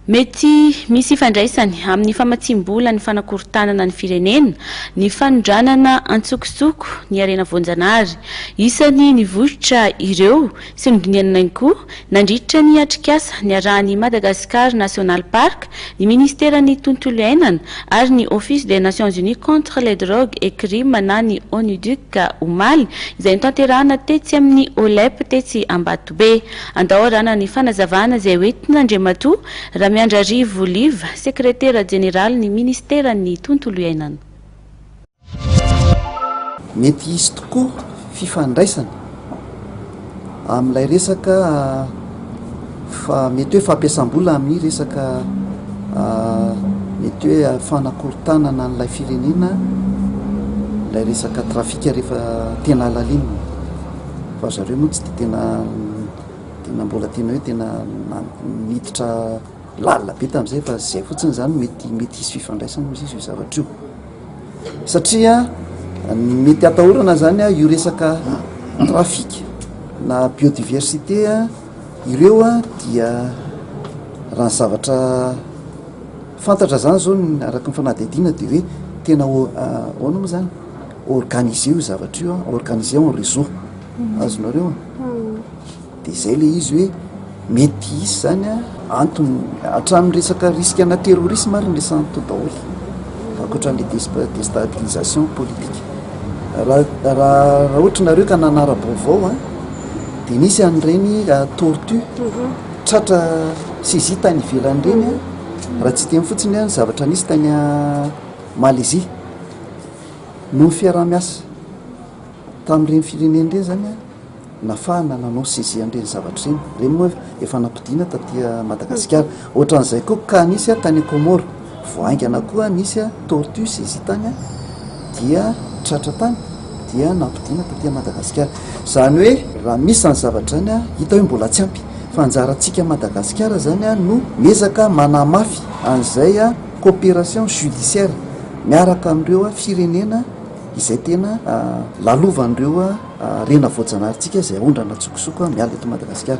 Mety misy ifandraisany amin'ny famatsiam-bola ny fanakorontanana ny firenena, ny fanondranana an-tsokosoko ny harena voanjanahary. Isan'ny nivoitra ireo sy nodinihana ihany koa nandritra ny atrikasa niarahan'ny Madagascar National Park, ny Ministeran'ny Tontolo Iainana ary ny Office des Nations Unies contre les Drogues et Crimes na ny ONUDC omaly, izay notanterahana tetsy amin'ny OLEP tetsy Ambatobe. Andao arahana ny fanazavana izay hoentin'Andriamatoa Ramiandrarivo Olive, Sekretera Jeneralin'ny Ministeran'ny Tontolo Iainana. Mety hisy tokoa fifandraisana amin'ilay resaka fa mety hoe fampiasam-bola amin'ny resaka mety hoe fanakorontanana an'ilay firenena ilay resaka trafika rehefa tena halalinina. Fa zareo moa tsy dia tena tena mbola tena hoe tena miditra lalina be tamin'izay fa izay fotsiny izany mety mety hisy fifandraisany moa izy io zavatra io satria ny mety hatahorana izany a io resaka trafic na biodiversité a ireo a dia raha ny zavatra fantatra izany izao ny araka ny fanadihadiana dia hoe tena ahoana moa izany Organiser io zavatra io an, organiser en réseau, azonareo an, dia izay ilay izy hoe mety hisy izany an, antony hatramin'ny resaka risque ana terrorisme ary ny resahana tao daholo, ankoatran'ilay desp- destabilisation politique. Raha raha raha ohatra nareo ka nanara-baovao an, dia nisy an'ireny tortue tratra saisie tany ivelany ireny an, raha tsy hiteny fotsiny hoe ny zavatra nisy tany Malaisie. Noho ny fiaraha-miasa tamin'ireny firenena ireny izany, nafahana nanao saisie an'ireny zavatra ireny. Ireny moa efa nampodiana taty Madagasikara. Ohatran'izay koa cas nisy tany Comores. Vao haingana koa nisy tortues izy tany dia tratra tany dia nampodiana taty Madagasikara. Izany hoe raha misy izany zavatra izany, hita hoe mbola tsy ampy. Fa anjarantsika Madagasikara izany no miezaka manamafy an'izay coopération judiciaire miaraka amin'ireo firenena izay tena lalovan'ireo rena voajanaharintsika izay aondrana antsokosoko miala eto Madagasikara.